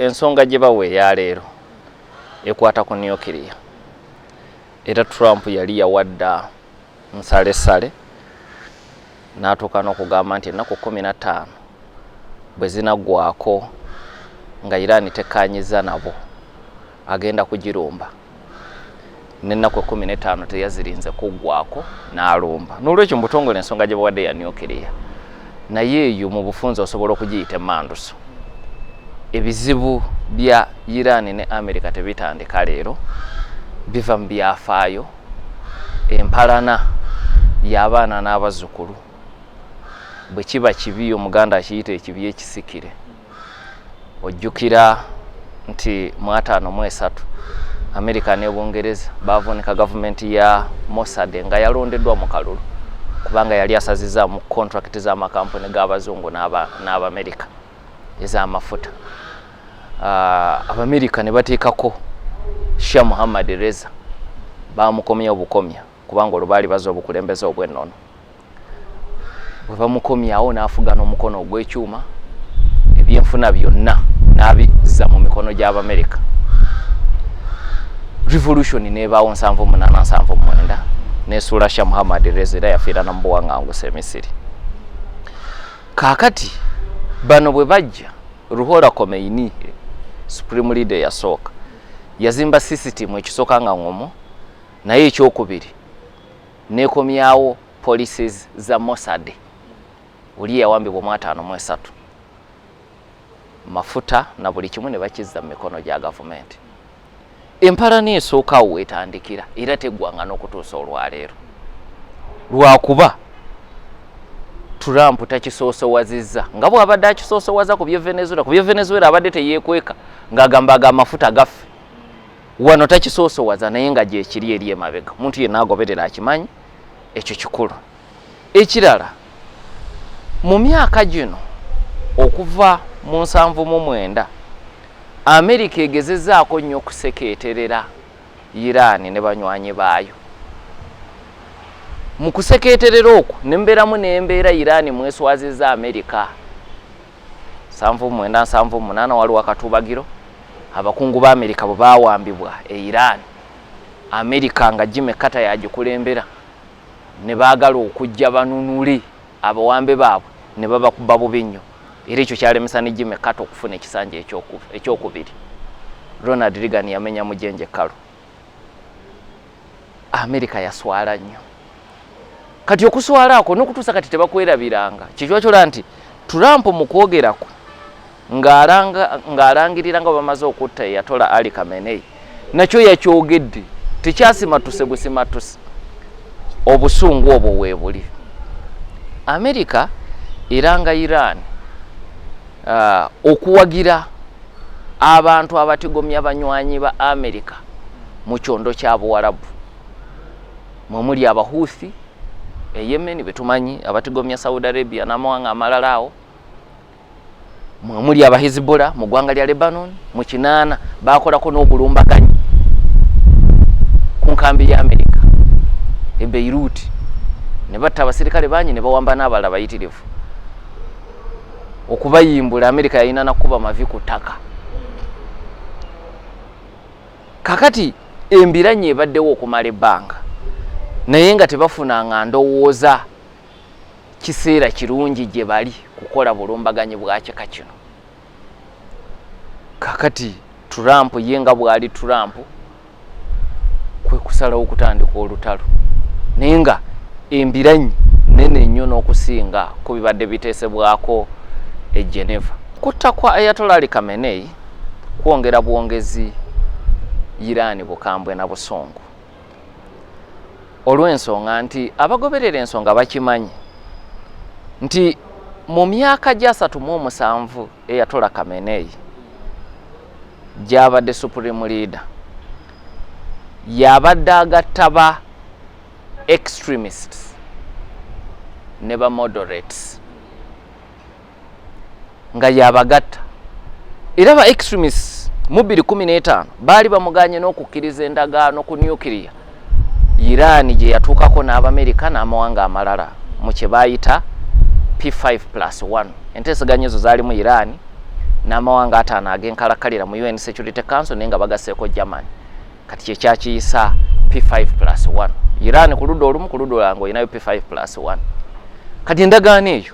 Ensonga gye bawa eya leero ekwata ku nukiriya era Trump yali yawadda nsalesale n'atuuka n'okugamba nti ennaku kkumi na ttaano bwe zinaggwako nga Iran tekkaanyizza nabo agenda kugirumba. n'ennaku ekkumi n'ettaano teyazirinze kuggwako n'alumba n'olwekyo mu butongole ensonga gye bawadde ya nucleya naye eyo mu bufunzi osobola okugiyita emanduso ebizibu bya iran ne america tebitandika leero biva mu byafaayo empalana y'abaana n'abazzukulu bwe kiba kibi omuganda akiyita ekibi ekisikire ojjukira nti mu ataano mu esatu amerika ne bungereza bavunika gavumenti ya mosade nga yalondeddwa mu kalulu kubanga yali asaziza mu kontrakiti z'amakampuni g'abazungu n'abamerika ez'amafuta ah, abamerika ne bateekako sha muhammad reza bamukomya obukomya kubanga olwo baali baza obukulembeze obwennono bwe bamukomyawo n'afuga n'omukono ogw'ekyuma ebyenfuna byonna n'abizza mu mikono gy'abamerika revolution nebaawo nsanvu munaana nsanvu mwenda nesuula sha muhammad reza era yafiira namubuwaŋangusa emisiri kaakati bano bwe bajja ruhola komeini supreme leader yasooka yazimba sisitimu ekisooka nga ngomu naye ekyokubiri nekomyawo policies za mosad oli yawambibwa omwataano mu esatu mafuta na buli kimu ne bakizza mu mikono gya gavumenti empalana esookawo wetandikira era teggwanga n'okutuusa olwaleero lwakuba trump takisoosowazizza nga bwabadde akisoosoowaza ku bye venezuela ku bye venezuela abadde teyekweka ng'agamba aga amafuta gaffe wano takisoosowaza naye nga gyekiri eri emabega omuntu yenna agoberera akimanyi ekyo kikulu ekirala mu myaka gino okuva mu nsanvu mu mwenda amerika egezezaako nnyo okusekeeterera iraani ne banywanyi baayo mu kusekeeterera okwo ne mbeeramu n'embeera iraani mweswaziza amerika nsanvu mwenda nsanvu munaana waliwo akatuubagiro abakungu ba amerika bwe bawambibwa e iran amerika nga jime kata yagikulembera ne baagala okujja banunule abawambe baabwe ne babakuba bubi nnyo era ekyo kyalemesa ne jime kata okufuna ekisanja ekyokubiri ronald reagan yamenya mujenje kalu amerika yaswala nnyo kati okuswala ako nokutuusa kati tebakwerabiranga kyekiwakyolaba nti trump mukwogerako ng'alangirira nga bamaze okutta eyatola ali kamenei nakyo yakyogedde tekyasimatuse busimatuse obusungu obwo weebuli amerika eranga iran uh, okuwagira abantu abatigomya banywanyi ba amerika mu kyondo kya buwarabu mwemuli abahuthi eyemen betumanyi abatigomya saudi arabia namawanga amalala awo mwemuli abahizibula mu gwanga lya lebanon mu kinaana bakolako n'obulumbaganyi ku nkambi ya amerika e beiruti ne batta abasirikale bangi ne bawamba n'abalala bayitirivu okubayimbula amerika yalina nakukuba mavi ku ttaka kakati embiranye ebaddewo okumala ebbanga naye nga tebafunanga ndowooza kiseera kirungi gye bali kukola bulumbaganyi bwakika kino kakati trump ye nga bwali trump kwekusalawo okutandika olutalo naye nga embiranyi nene nnyo n'okusinga ku bibadde biteesebwako e geneva kutta kwa ayatolali kamenei kwongera bwongezi irani bukambwe na busungu olw'ensonga nti abagoberera ensonga bakimanyi nti mu myaka gyasatu mu omusanvu eyatola kameneyi gyabadde supreme leader yabadde agatta ba extremists ne ba moderates nga yabagatta era ba extremists mu 2015 baali bamuganye n'okukkiriza endagaano ku nuclear iran gye yatuukako n'abamerika n'amawanga amalala mu kye baayita p5 plus 1 enteeseganya ezo zaali mu iran n'amawanga ataano ag'enkalakalira mu un security council naye nga bagaseeko germany kati kyekyakiyisa p5 plus 1 iran ku ludda olumu ku ludda olanga olinayo p5 plus 1 kati endagaano eyo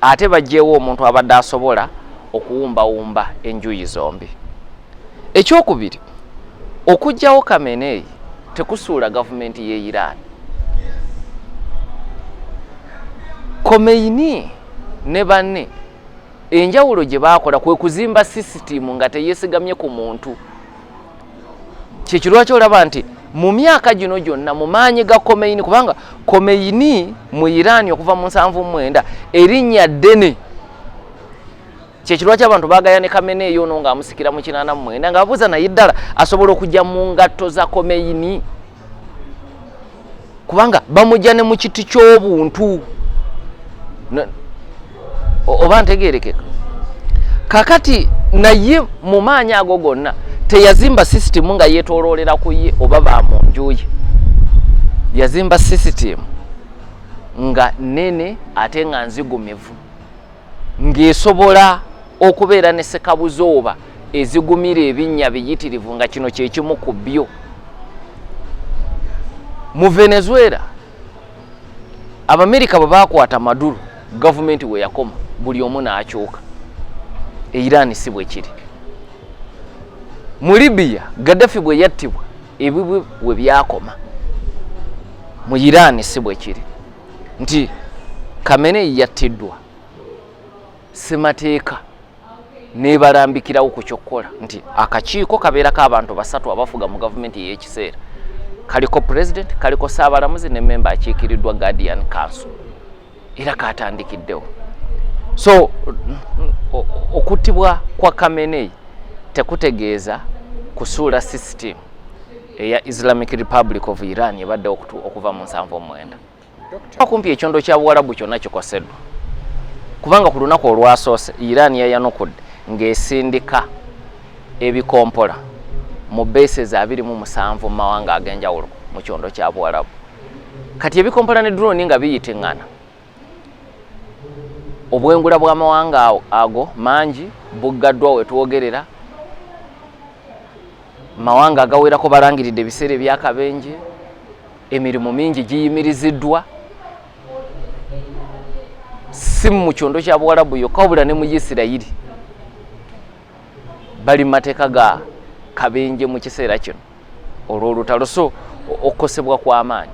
ate bajjeewo omuntu abadde asobola okuwumbawumba enjuyi zombi ekyokubiri okugyawo kameneyi tekusuula gavumenti ye iran komeini ne banne enjawulo gye baakola kwe kuzimba sisitiimu nga teyesigamye ku muntu kyekyo lwaki olaba nti mu myaka gino gyonna mu maanyi ga komeini kubanga komeini mu iraani okuva mu nsanvu mwenda erinnya ddene kyekirwaki abantu bagaya ne kamene eyo ono ng'amusikira mu kinaana mu mwenda ng'abuuza naye ddala asobola okujja mu ngatto za komeini kubanga bamujja ne mu kiti ky'obuntu oba ntegerekeka kakati naye mu maanyi ago gonna teyazimba sisitimu nga yetoloolera ku ye oba ba mu nju ye yazimba sisitimu nga nene ate nga nzigumivu ng'esobola okubeera ne sekabuzooba ezigumira ebinnya biyitirivu nga kino kyekimu ku byo mu venezuela abamerika bwe bakwata maduro gavumenti we yakoma buli omu n'akyuka eirani si bwe kiri mu libiya gaddafi bwe yattibwa ebibwe we byakoma mu irani si bwe kiri nti kamene yattiddwa semateeka nebalambikirawo ku kyokkola nti akakiiko kabeerako abantu basatu abafuga mu gavumenti ey'ekiseera kaliko pulezidenti kaliko saabalamuzi ne memba akiikiriddwa guardian council era katandikiddewo so okuttibwa kwa kameneyi tekutegeeza kusuula system eya islamic republic of iran ebadde okuva mu nsanvu omwenda kumpi ekyondo kya buwalabu kyonna kikoseddwa kubanga ku lunaku olwasoose iran yayanukudde ng'esindika ebikompola mu bases abiri mu musanvu mu mawanga ag'enjawulo mu kyondo kya buwalabu kati ebikompola ne drone nga biyitingana obwengula bw'amawanga ago mangi buggaddwa wetwogerera mawanga agawerako balangiridde ebiseera ebyakabenje emirimu mingi giyimiriziddwa si mu kyondo kya buwalabu yokka wabula ne mu isirayiri bali mu mateeka ga kabenje mu kiseera kino olw'olutalo so okukosebwa kw'amaanyi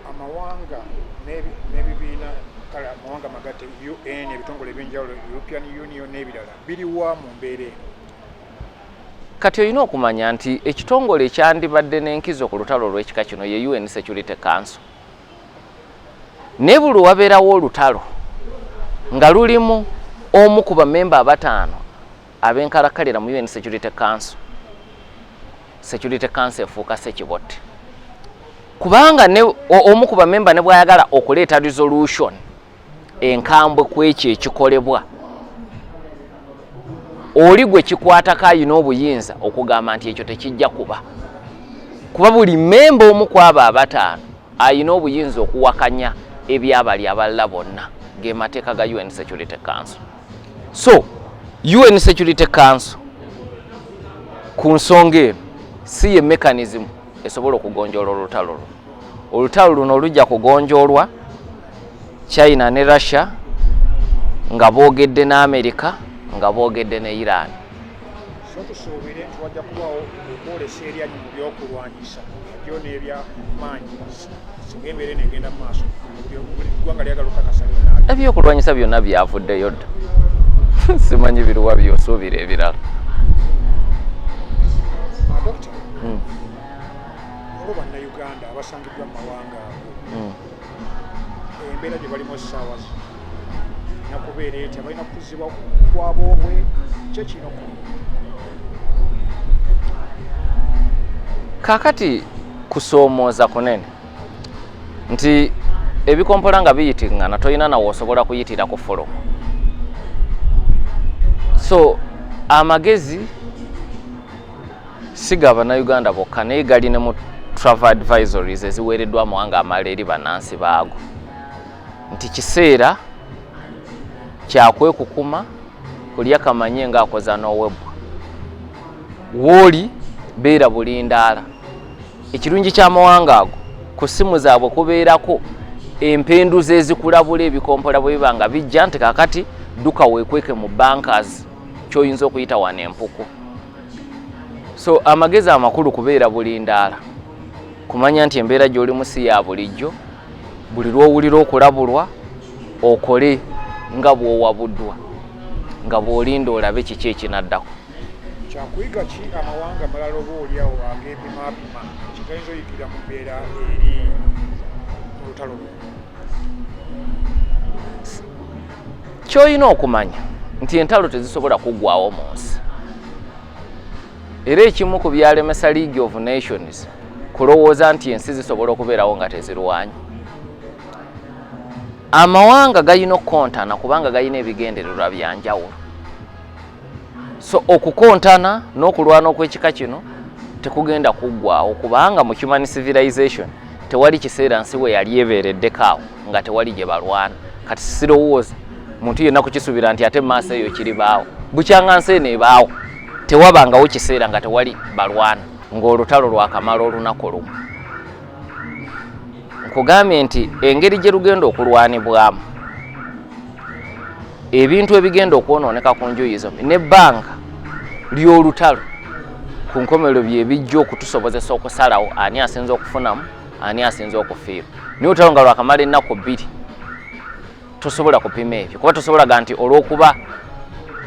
amawanga n'ebibiina kale amawanga magatte un ebitongole ebyenjawulo european union n'ebirala biriwa mu mbeera eno kati olina okumanya nti ekitongole ekyandibadde n'enkizo ku lutalo olw'ekika kino ye un security council naye buli wabeerawo olutalo nga lulimu omu ku bamemba abataano abenkalakkalira mu un security council security council efuuka sekibotte kubanga ne omu ku bamemba ne bwayagala okuleeta resolution enkambwe ku ekyo ekikolebwa oli gwe kikwatako ayina obuyinza okugamba nti ekyo tekijja kuba kuba buli memba omu ku abo abataano ayina obuyinza okuwakanya ebyabali abalala bonna ge mateeka ga un security council so UN Security Council ku nsonga eno si ye mechanism esobola okugonjoola olutalo luno olutalo luno lujja kugonjoolwa China ne Russia nga boogedde ne America nga boogedde ne Iran tusuubire nti wajja kubaawo okwolesa eryanyi mu byokulwanyisa byo n'ebyamaanyi ebyokulwanyisa byonna byavuddeyo dda simanyi biruwa byosuubira ebirala hmm. olwo bannayuganda abasangiddwa mu mawanga ago hmm. embeera gye balimu essaawa zino nakubeera etya balina kukuzibwa kwaboobwe kyo kino kakati kusoomooza kunene nti ebikompola nga biyitiŋŋana tolina nawe osobola kuyitira ku folomu so amagezi siga banauganda bokka naye gali ne mu travel advisories eziweereddwa amawanga amala eri bannansi baago nti kiseera kyakwekukuma kulya kamanye ng'akoza n'owebwa wooli beera bulindaala ekirungi ky'amawanga ago ku ssimu zaabwe kubeerako empenduza ezikulabula ebikompola bwe biba nga bijja nti kakati dduka weekweke mu bankers kyoyinza okuyita wano empuku so amagezi amakulu kubeera bulindaala kumanya nti embeera gy'oli mu si ya bulijjo buli lwowulira okulabulwa okole nga bwowabuddwa nga bwolinda olabe kiki ekinaddako kyakuyiga ki amawanga amalala oba oliawo agepimapima kyetayinza oyigirira mu mbeera eri olutalo lwo kyolina okumanya nti entalo tezisobola kuggwawo mu nsi era ekimu ku byalemesa league of nations kulowooza nti ensi zisobola okubeerawo nga tezirwanyi amawanga galina okukontana kubanga galina ebigendererwa byanjawulo so okukontana n'okulwana okwekika kino tekugenda kuggwawo kubanga mu human civilization tewali kiseera nsi we yali ebeereddekaawo nga tewali gye balwana kati sirowooza muntu yenna kukisuubira nti ate maaso eyo kiribaawo bukyanga nsi eno ebaawo tewabangawo kiseera nga tewali balwana ng'olutalo lwakamala olunaku lumu nkugambye nti engeri gye lugenda okulwanibwamu ebintu ebigenda okwonooneka ku njuyi zombi nebbanga ly'olutalo ku nkomerero byebijja okutusobozesa okusalawo ani asinza okufunamu ani asinza okufiirwa naye olutalo nga lwakamala ennaku bbiri tosobola kupima ebyo kuba tosobola ga nti olwokuba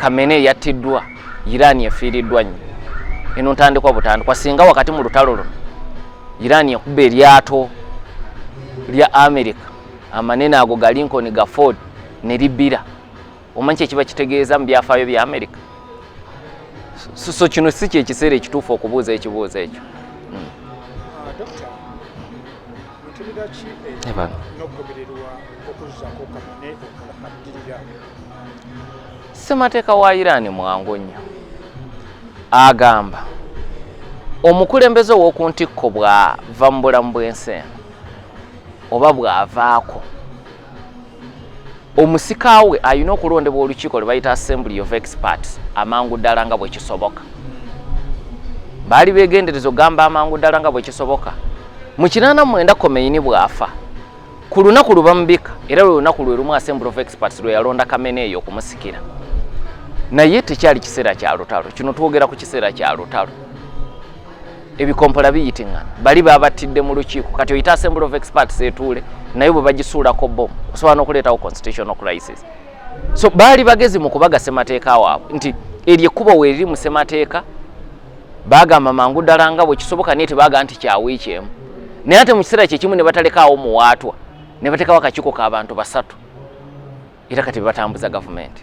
kamene yattiddwa irani efiiriddwa nnyo eno ntandikwa butandikwa singa wakati mu lutalo luno irani ekuba eryato lya america amanene ago ga lincoln ga ford ne libbira omanyi kyekiba kitegeeza mu byafaayo bya america so kino si kyekiseera ekituufu okubuuza ekibuuzo ekyo ssemateeka wa irani mwangu nnyo agamba omukulembeze ow'oku ntikko bw'ava mu bulamu bw'ensi eno oba bw'avaako omusika we alina okulondebwa olukiiko lwe bayita assembly of experts amangu ddala nga bwekisoboka baali begendereza okugamba amangu ddala nga bwekisoboka mu kinaana mwenda komeyini bw'afa ku lunaku lubamubika era lwe lunaku lwe lumu assembly of experts lwe yalonda kamena eyo okumusikira naye tekyali kiseera kya lutalo kino twogera ku kiseera kya lutalo ebikompola biyitingana bali babattidde mu lukiiko kati oyita assembly of experts etuule naye bwe bagisuulako bom osobola n'okuleetawo constitutional crisis so baali bagezi mu kubaga ssemateeka waabwe nti eryo ekkubo weeriri mu ssemateeka bagamba mangu ddala nga bwe kisoboka naye tebaga nti kyawiiki emu naye ate mu kiseera kyekimu ne batalekaawo muwaatwa ne bateekawo akakiiko k'abantu basatu era kati bebatambuza gavumenti